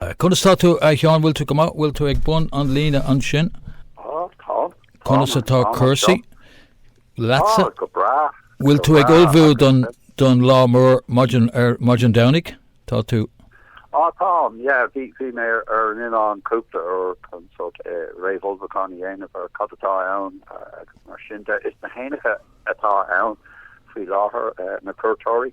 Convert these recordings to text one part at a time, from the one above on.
Conas tá tú a Sheáin an bhfuil tú go maith bhfuil tú ag bun an líne ansin? Ó tá. Conas atá cúrsaí leatsa? Tá go breá. Bhfuil tú ag ullmhú don don lá mór maidin maidin Domhnaigh? Tá tú. Ó táim yeah bhí bhí mé ar ar an oileán cúpla uair chun sórt eh réamhullmhúchán a dhéanamh ar cad atá ann agus mar sin de is na héanacha atá ann faoi láthair eh na cuairteoirí.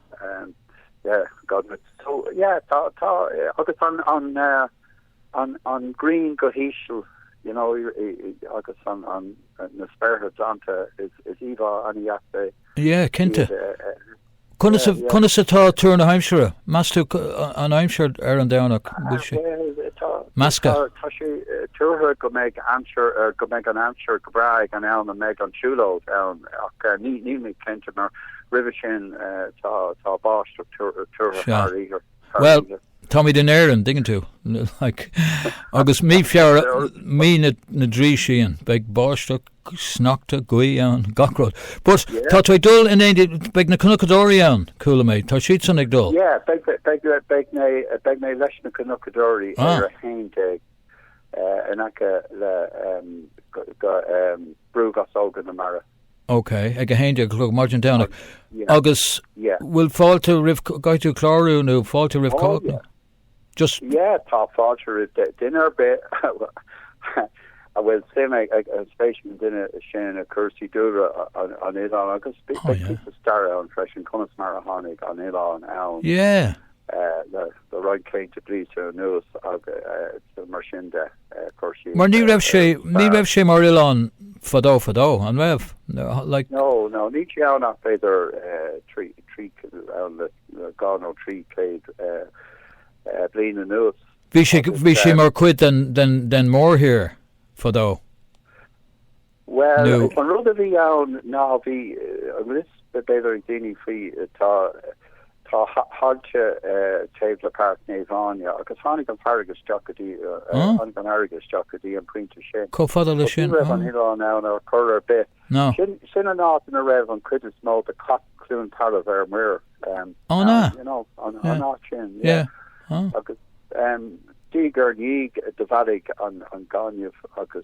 Yeah, cinnte. Conas atá tuar na haimsire? Meas tú an aimsir ar an Domhnach bhfuil sé measctha? Tá sé tuartha go mbeidh aimsir go mbeidh an aimsir go breá ag an am a mbeidh an siúlóid ann ach níl mé cinnte mar roimhe sin tá báisteach tuartha thar oíche. Bhuel, táimid in Éirinn, dtuigeann tú. Agus mí Feabhra, mí na dtrí síon, beidh báisteach, sneachta, gaoth ann, gach rud. But tá tú ag dul in éindí, beidh na cnocadóirí ann, chuala mé, tá siadsan ag dul? Yeah, beidh mé leis na cnocadóirí ar a haon déag in aice le Brú Ghasóga na Mara. Ok, ag a haon déag a chlog, maidin Domhnaigh. Agus bhfuil fáilte roimh, caithfidh tú clárú nó fáilte roimh cách? Just. Yeah, tá fáilte roimh duine ar bith a bhfuil suim ag, spéis ag an duine sin i gcúrsaí dúlra an oileáin agus bíonn píosa stair ann freisin conas mar a tháinig an oileán ann le roinnt céadta blianta anuas agus mar sin de. Mar ní raibh sé, ní raibh sé mar oileán fadó fadó, an raibh? Like. No, no, níl sé ann ach b'fhéidir trí, trí, ann le dhá nó trí chéad bliain anuas. Bhí sé, bhí sé mar chuid den, den, den mhórthír fadó. Bhuel, Nó. an rud a bhí ann ná bhí a fhios b'fhéidir ag daoine faoi tá tá tailte taobh le Páirc Naomh Áine agus tháinig an fharraige isteach go dtí Á. tháinig an fharraige isteach go dtí an pointe sin. Chomh fada leis But ní sin. raibh an Á. oileán ann ar chor ar bith. Ná. Sin sin an áit ina raibh an cuid is mó de Chath Cluain Tarbh ar siúl um, Á ná. ann, you know, an Yeah. an áit sin, yeah. Yeah. Á. Agus um, diaidh ar ndiaidh do bhailigh an an gaineamh agus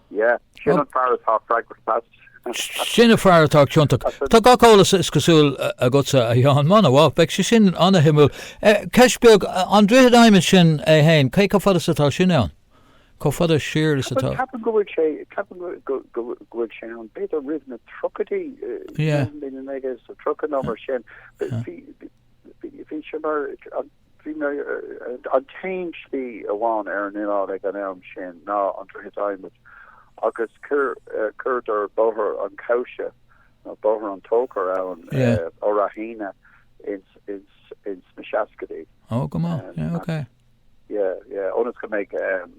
Yeah, sin an fear atá pragmatach. Sin an fear atá ciontach. Tá gach eolas is cosúil agatsa, a Sheáin. An-mhaith, beidh sé sin an-shuimiúil. Ceist beag, an Droichead Adhmaid sin é fhéin, cé chomh fada is atá sin ann? Chomh fada siar is atá. Ceapaim go bhfuil sé, ceapaim go bhfuil sé ann, b'fhéidir roimh na tríochaidí, naoi déag is tríocha nó mar sin. Bhí, bhí sé mar, Bhuel, an t-aon slí amháin ar an oileán ag an am sin ná an droichead adhmaid agus chuireadar Bóthar an Chabhsa nó Bóthar an Tóchair ann ó Ráth Eanaigh ins na seascaidí. Ó go maith, yeah ok. Yeah yeah ionas go mbeidh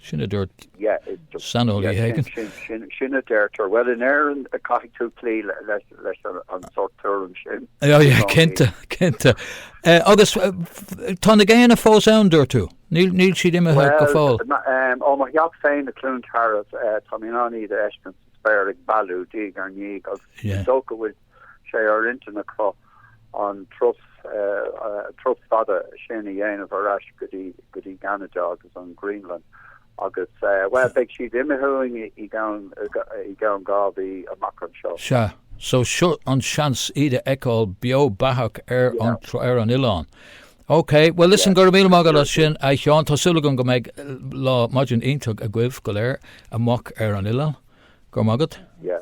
Sin a dúirt saineolaí éigin. Sin a deirtear. Bhuel, in Éirinn caithfidh tú cloí leis an sórt tuairim sin. Aye, cinnte, cinnte. Agus tá na géanna fós ann, dúirt tú? Níl siad imithe go fóill? Bhuel, ó mo theach féin i Cluain Tarbh, tá mé in ann iad a fheiscint sa spéir ag bailiú diaidh ar ndiaidh agus is dócha go bhfuil sé ar intinn acu an turas fada sin a dhéanamh ar ais go dtí gCeanada agus an Ghraonlainn agus, bhuel, beidh siad imithe uainn i gceann dhá mhí amach anseo. Sea, so seo an seans iad a fheiceáil beo beathach ar an oileán. Ok, bhuel, listen, go raibh míle maith agat as sin, a Sheáin. Tá súil agam go mbeidh lá, maidin iontach agaibh go léir amach ar an oileán. Go raibh maith agat. Yeah.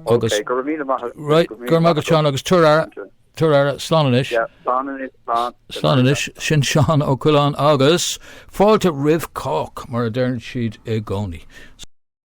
Agus. Ok, go raibh míle maith agat. Right, go raibh maith agat Seán agus tabhair aire, tabhair aire, slán anois. Yeah, slán anois, slán. Slán anois, sin Seán Ó Coileáin agus fáilte roimh cách mar a deireann siad i gcónaí.